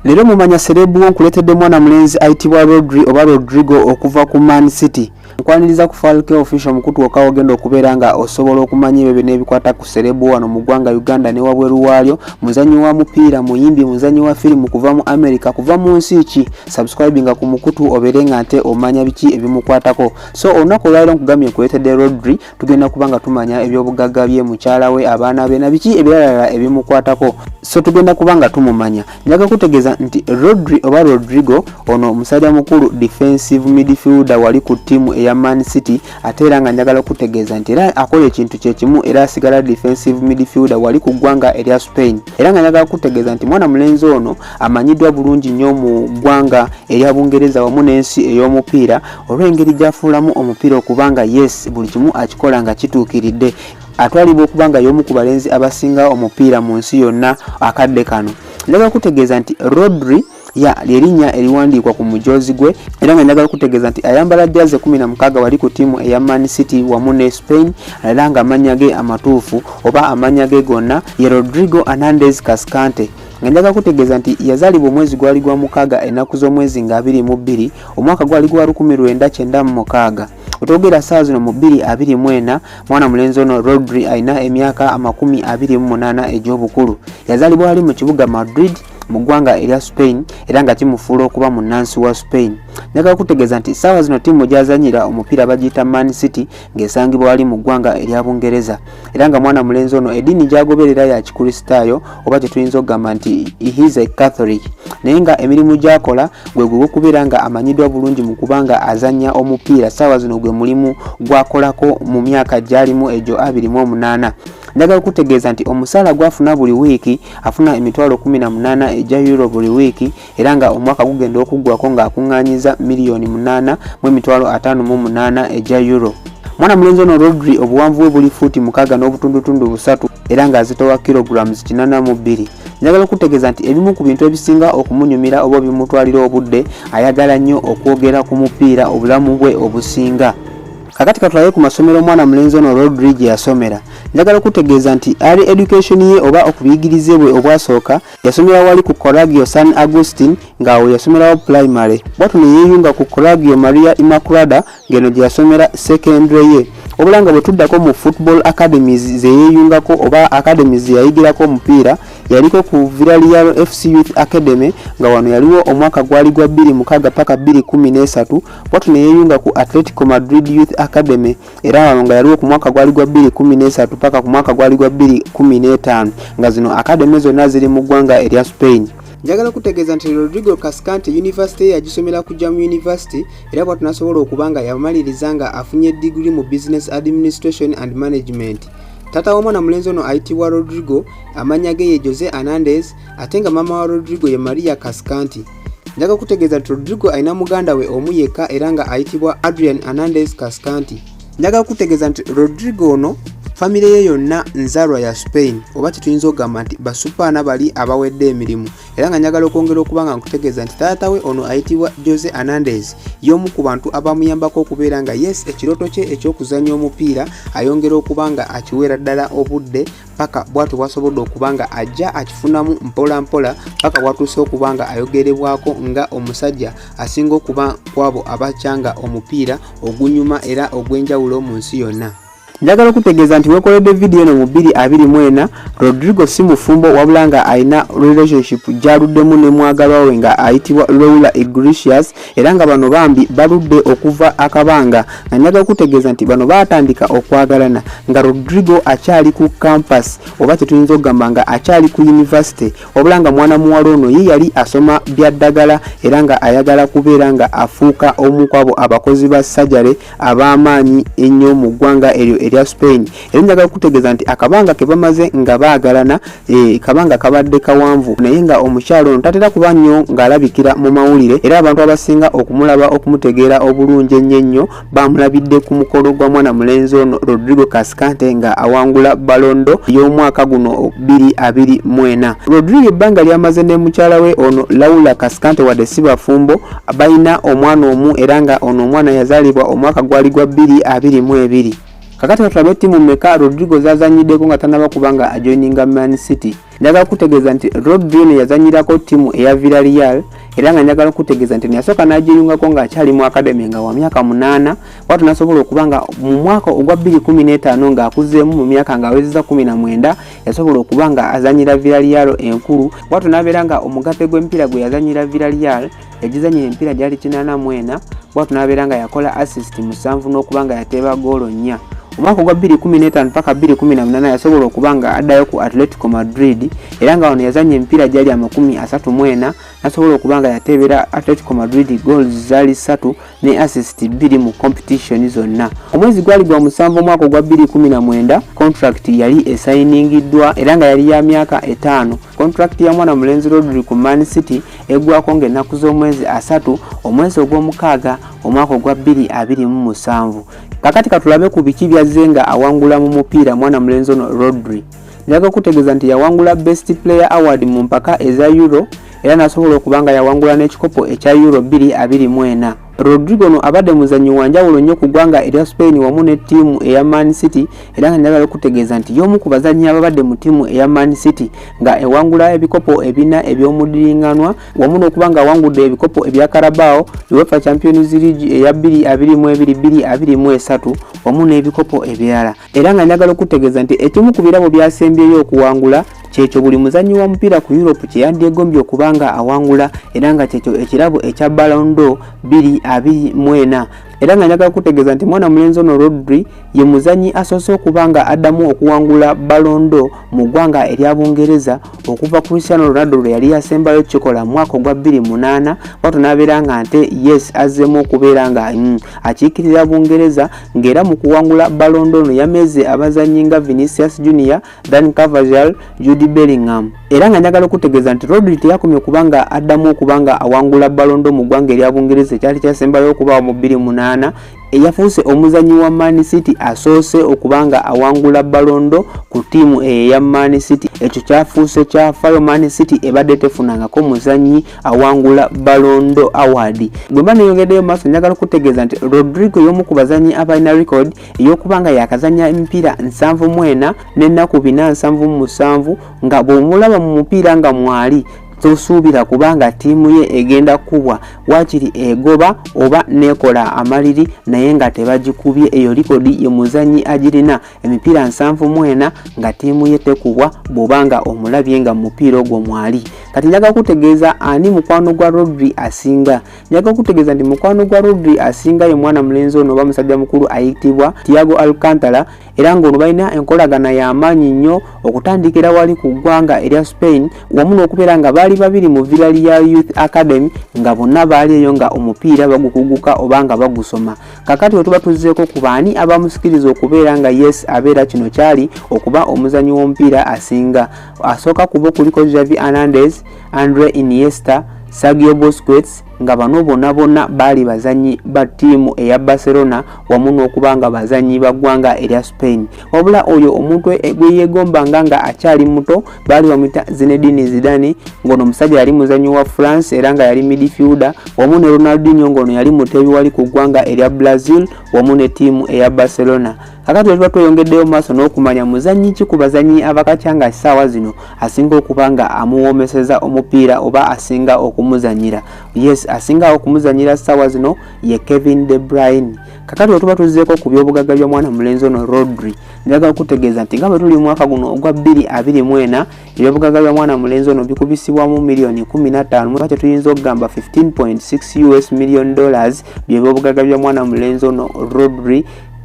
Leero mumanya serebu wo nkuleetedde mwana mulenzi ayitibwa Rodri oba Rodrigo okuva ku Man City. Nkwaniriza ku Falke Official mukutu wokka wogenda okubeera nga osobola okumanya ebyo byonna ebikwata ku serebu wano mu ggwanga Uganda ne wabweru waalyo. Muzannyi wa mupiira, muyimbi, muzannyi wa firimu kuva mu Amerika, kuva mu nsi ki? Subscribinga ku mukutu obeere nga nte omanya biki ebimukwatako. So olunaku olwaliro nkugambye nkuleetedde Rodri tugenda kuba nga tumanya ebyobugagga bye mukyala we abaana be na biki ebiralala ebimukwatako so tugenda kuba nga tumumanya njaga kutegeeza nti rodri oba rodrigo ono omusajja mukulu defensive midfielder wali ku ttiimu eya man city ate era nga njagala okutegeeza nti era akola ekintu kyekimu era asigala defensive midfielder wali ku ggwanga erya spain era nga njagala kutegeeza nti mwana mulenzi ono amanyiddwa bulungi nnyo mu ggwanga erya bungereza wamu n'ensi ey'omupiira olw'engeri gy'afuulamu omupiira okuba nga yes buli kimu akikola nga kituukiridde atwalibwa okuba nga y'omu ku balenzi abasinga omupiira mu nsi yonna akadde kano njagala kutegeeza nti rodri ya lyerinnya eriwandiikwa ku mujoozi gwe era nga njagala okutegeeza nti ayambala jaze 16 wali ku ttiimu eya man city wamu ne spain era nga amannya ge amatuufu oba amannya ge gonna ye rodrigo anandez cascante nga njaga kutegeeza nti yazaalibwa omwezi gwali gwa mukaaga ennaku z'omwezi nga abiri mu bbiri omwaka gwali gwa lukumi lwenda kyenda mu mukaaga otwogera saawa zino mu bbiri abiri mu ena mwana mulenzi ono rodri alina emyaka amakumi abiri mu munaana egy'obukulu yazaalibwa ali mu kibuga madrid mu ggwanga erya spain era nga kimufuula okuba munnansi wa spain njagala kutegeeza nti saawa zino ttiimu gyazanyira omupiira bagiyita man city ng'esangibwa wali mu ggwanga erya bungereza era nga mwana mulenzi ono ediini gyagoberera ya kikristaayo oba kyetuyinza okugamba nti his a catholic naye nga emirimu gyakola gwe gwe gwokubeera nga amanyiddwa bulungi mu kuba nga azanya omupiira saawa zino gwe mulimu gwakolako mu myaka gyalimu egyo 28 njagala okutegeeza nti omusaala gwafuna buli wiiki afuna emitwalo 18 egya euro buli wiiki era nga omwaka gugenda okuggwako ng'akuŋŋaanyiza miliyoni munaana mu emitwalo ataano mu munaana egya euro mwana mulenzi ono rodri obuwanvu bwe buli fuuti mukaaga n'obutundutundu busatu era ng'azitowa kilograms kinana mu bbiri njagala okutegeeza nti ebimu ku bintu ebisinga okumunyumira oba bimutwalira obudde ayagala nnyo okwogera ku mupiira obulamu bwe obusinga kakati katulabe ku masomero omwana mulenzi ono rodri gye yasomera njagala okutegeeza nti ali education ye oba okubiyigirize bwe obwasooka Yasomera wali ku Coragio San Agustin ng'awo yasomerawo pulayimale. Bwatyo ne yeeyunga ku Coragio Maria Immaculada ng'eno gye yasomera sekendule ye. Wabula nga bwe tuddako mu Football Academies ze yeeyungako oba academies ze yayigirako omupiira, yaliko ku Villarreal FC Youth Academy nga wano yaliwo omwaka gwali gwa bbiri mukaaga paka bbiri kkumi n'esatu, bwatyo ne yeeyunga ku Atletico Madrid Youth Academy. era wano nga yaliwo ku mwaka gwali gwa 213 paka ku mwaka gwali gwa 215 nga zino akademe zonna ziri mu ggwanga erya spain njagala kutegeeza nti rodrigo cascante yunivasite ye yagisomera kujja mu yunivasite era bwatu nasobola okuba nga yamaliriza nga afunye digiri mu business administration and management tata w'omwana mulenzi ono ayitibwa rodrigo amanya ge ye jose anandes ate nga maama wa rodrigo ye maria cascanti njaga kutegeeza nti rodrigo alina muganda we omu yekka era nga ayitibwa adrian anandes cascanti njaga kutegeeza nti rodrigo ono famire ye yonna nzalwa ya spain oba kyetuyinza okugamba nti basupaana bali abawedde emirimu era nga njagala okwongera okuba nga nkutegeeza nti taata we ono ayitibwa jose anandes y'omu ku bantu abamuyambako okubeera nga yes ekirooto kye eky'okuzannya omupiira ayongera okuba nga akiweera ddala obudde paka bwatyo bwasobodde okuba nga ajja akifunamu mpola mpola paka bwatuuse okuba nga ayogerebwako nga omusajja asinga okuba kwabo abakyanga omupiira ogunyuma era ogw'enjawulo mu nsi yonna njagala okutegeeza nti wekoledde vidiyo eno mu 224 rodrigo si mufumbo wabula nga alina relationship gyaluddemu ne mwagalwa we nga ayitibwa loula igricius era nga bano bambi baludde okuva akabanga nga njaga okutegeeza nti bano baatandika okwagalana nga rodrigo akyali ku campus oba kyetuyinza okugamba nga akyali ku yunivasite wabula nga mwana muwala ono ye yali asoma bya ddagala era nga ayagala kubeera nga afuuka omu kwabo abakozi ba sajare ab'amaanyi ennyo mu ggwanga eryo erya spain era njaga okutegeeza nti akabanga ke bamaze nga baagalana e, kabanga kabadde kawanvu naye nga omukyalo ono tatera kuba nnyo ng'alabikira mu mawulire era abantu abasinga okumulaba okumutegeera obulungi ennyo ennyo baamulabidde ku mukolo gwa mwana mulenzi ono rodrigo kasikante nga awangula balondo y'omwaka guno 224 rodrigo ebbanga lyamaze ne mukyala we ono laula kasikante wadde si bafumbo balina omwana omu era nga ono omwana yazaalibwa omwaka gwali gwa 222 kakati katulabe ttiimu meka rodrigo zazanyiddeko nga tanaba kuba nga ajoininga man city njagala kukutegeeza nti rodri eno yazanyirako ttiimu eya villareal era nga njagala okutegeeza nti neyasooka n'agiyungako ng'akyali mu akademi nga wa myaka munaana watu nasobola okuba nga mu mwaka ogwa 215 ng'akuzeemu mu myaka ng'awezeza 19 yasobola okuba nga azanyira villareal enkulu watu n'abeera nga omugatte gw'emipiira gwe yazanyira villareal yagizanyira emipiira gyali kinaana mu ena bwatu n'abeera nga yakola assist musanvu n'okuba nga yateeba goolo nnya omwaka ogwa 2015 paka 2018 yasobola okuba nga addayo ku atletico madrid era nga wano yazanya emipiira gyali amakumi asatu mu ena nasobola okuba nga yateebera atletico madrid goals zaali ssatu ne assist bbiri mu competition zonna omwezi gwali gwa musanvu omwaka ogwa 2019 contract yali esayiningiddwa era nga yali ya myaka etaano contract ya mwana mulenzi rodri ku man city eggwako ng'ennaku z'omwezi asatu omwezi ogw'omukaaga omwaka ogwa 2027 kakati katulabe ku biki byazze nga awangula mu mupiira mwana mulenzi ono rodri njaga okutegeeza nti yawangula best player award mu mpaka eza euro era n'asobola okuba nga yawangula n'ekikopo ekya euro 224 Rodrigo ono abadde muzannyi wa njawulo nnyo ku ggwanga erya Spain wamu ne ttiimu eya Man City era nga njagala okutegeeza nti y'omu ku bazannyi ababadde mu ttiimu eya Man City nga ewangula ebikopo ebina eby'omudiringanwa wamu n'okuba nga awangudde ebikopo ebya Carabao, UEFA Champions League eya 222223 wamu n'ebikopo ebirala. era nga njagala okutegeeza nti ekimu ku birabo byasembyeyo okuwangula kyekyo buli muzannyi wa mupiira ku europe kye yandyegombye okuba nga awangula era nga kyekyo ekirabo ekya balondo 224 era nga njagala kutegeeza nti mwana mulenzi ono rodri ye muzannyi asoose okuba nga addamu okuwangula balondo mu ggwanga erya bungereza okuva cristiano ronaldo lwe yali yasembayo kikola mu mwaka ogwa 28 bwato n'abeera nga nte yes azzemu okubeera nga mm, akiikirira bungereza ng'era mu kuwangula balondo ono yameze abazannyi nga vinicius junior dan cavajal judy bellingham era nga njagala okutegeeza nti rodri teyakomye okuba nga addamu okuba nga awangula balondo mu ggwanga erya bungereza ekyali kyasembayo okubaawo mu 28 eyafuuse omuzannyi wa man city asoose okuba nga awangula balondo ku ttiimu eyo eya man city ekyo kyafuuse kyafayo man city ebadde tefunangako muzannyi awangula balondo award bwemba neyongeddeyo maaso njagala okutegeeza nti rodrigo y'omu ku bazanyi abalina record ey'okuba nga yakazanya emipiira nsanvu mwena n'ennaku bina nsanvu mu musanvu nga bw'omulaba mu mupiira nga mwali tosuubira kubanga ttiimu ye egenda kukubwa waakiri egoba oba neekola amaliri naye nga tebagikubye eyo likodi ye muzannyi agirina emipiira nsanvu mu ena nga ttiimu ye tekubwa bw'oba nga omulabye nga mu mupiira ogwo mwali kati njaga kutegeeza ani mukwano gwa rodri asinga njaga kutegeeza nti mukwano gwa rodri asinga ye mwana mulenzi ono oba musajja mukulu ayitibwa tiago alcantara era ng'ono balina enkolagana y'amaanyi nnyo okutandikira wali ku ggwanga erya spain wamu n'okubeera nga baali babiri mu villali ya youth academy nga bonna baali eyo nga omupiira bagukuguka oba nga bagusoma kakati wetuba tuzzeeko ku baani abamusikiriza okubeera nga yes abeera kino kyali okuba omuzanyi w'omupiira asinga asooka kubo kuliko javi hernandez andre iniesta sagio bosquets nga bano bona bona baali bazanyi ba ttiimu eya barcelona wamu n'okuba nga bazanyi ba ggwanga erya spain wabula oyo omuntu e, gweyegombanga nga akyali muto baali bamuyita zinedini zidani ngaono omusajja yali muzanyi wa france era nga yali midfielder wamu ne ronaldinho ngaono yali muteebi wali ku ggwanga erya brazil wamu ne tiimu eya barcelona kakati wetuba tweyongeddeyo maaso n'okumanya muzanyi ki ku bazanyi abakatya nga kisaawa zino asinga okuba nga amuwoomeseza omupiira oba asinga okumuzanyira yes asinga okumuzanyira saawa zino ye kevin de brine kakati wetuba tuzzeeko ku byobugagga bya mwana mulenzi ono rodri njagala okutegeeza nti nga bwe tuli mwaka guno ogwa 224 ebyobugagga bya mwana mulenzi ono bikubisibwamu miliyoni 15 mweba kyetuyinza okugamba 15.6 us million dollars byebyobugagga bya mwana mulenzi ono rodri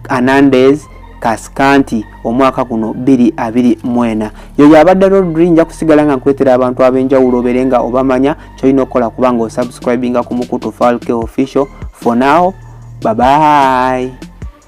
anandes kasikanti omwaka guno 224 yoyo abadde rodri nja kusigala nga nkwetera abantu ab'enjawulo obere nga obamanya kyolina okukola kubanga osubscribinga ku mukutu falke official for now babayi